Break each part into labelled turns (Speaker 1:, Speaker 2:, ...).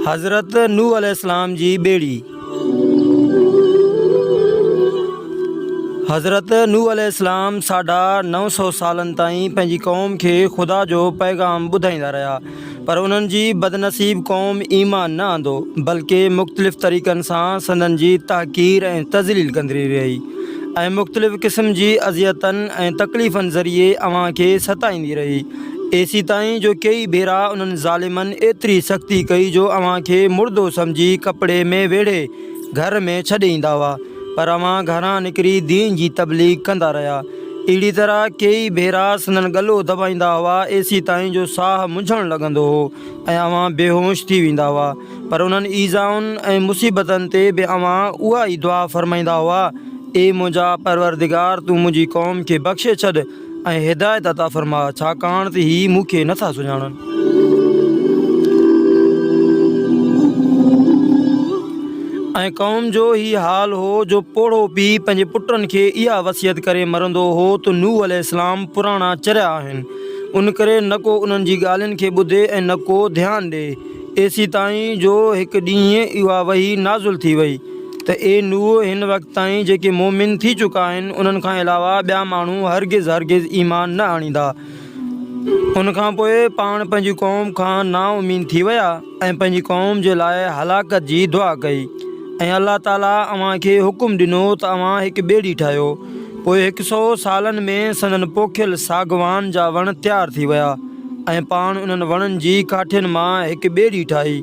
Speaker 1: حضرت نوح عليه السلام جي ٻيڙي حضرت نوح عليه السلام ساڍا نو سو سالن تائين پنهنجي قوم کي خدا جو پيغام ٻڌائيندا رهيا پر انهن جي بدنصيب قوم ايمان نه آندو بلڪه مختلف طريقن سان سندن جي تحقير ۽ تذليل ڪندري رهي ۽ مختلف قسم جي اذيتن ۽ تڪليفن ذريعي اوهان کي ستائيندي رهي ايسي تائين جو ڪيئي ڀيرا انهن ظالمن ايتري سختي ڪئي جو اوهان کي مردو سمجهي ڪپڙي ۾ ويڙهي گهر ۾ ڇڏي ايندا هئا پر اوهان گهران نڪري دين جي تبليغ ڪندا رهيا. اهڙي طرح ڪيئي ڀيرا سندن ڳلو دٻائيندا هئا ايسي تائين جو ساهه منجهڻ لڳندو هو ۽ اوهان بيهوش ٿي ويندا هئا پر انهن ايذائن ۽ مصيبتن تي به اوهان اها ئي دعا فرمائيندا هئا اي منهنجا پروردگار تون منهنجي قوم کي بخشي ڇڏ ۽ هدايت عطا فرماء، ڇاڪاڻ ته هي مون کي نٿا سڃاڻن. ۽ قوم جو هي حال هو جو پوڙهو پيء پنهنجي پٽن کي اها وصيت ڪري مرندو هو ته نوح عليه السلام پراڻا چريا آهن، ان ڪري نه ڪو انهن جي ڳالهين کي ٻڌي ۽ نه ڪو ڌيان ڏئي. ايسيتائين جو هڪ ڏينهن اها وحي نازل ٿي وئي. ته اي نوح! هن وقت تائين جيڪي مؤمن ٿي چڪا آهن، انهن کان علاوه ٻيا ماڻهو هرگز هرگز ايمان نه آڻيندا. ان کان پوء پاڻ پنهنجي قوم کان نااميد ٿي ويا ۽ پنهنجي قوم جي لاء هلاڪت جي دعا ڪئي ۽ الله تعاليٰ اوهان کي حڪم ڏنو ته اوهان هڪ ٻيڙي ٺاهيو، پوء هڪ سؤ سالن ۾ سندن پوکيل ساڳواڻ جا وڻ تيار ٿي ويا ۽ پاڻ انهن وڻن جي ڪاٺين مان هڪ ٻيڙي ٺاهي.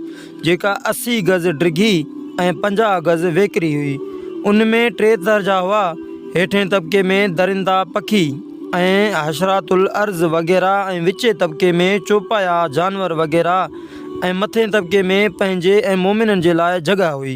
Speaker 1: جيڪا اسي گز ڊگهي ۽ پنجاهه گز ويڪري هئي. ان ۾ ٽي درجا هئا، هيٺئين طبقي ۾ درندا پکي ۽ حشرات الارض وغيره ۽ وچين طبقي ۾ چوپايا جانور وغيره ۽ مٿئين طبقي ۾ پنهنجي ۽ مؤمنن جي لاء جڳهه هئي.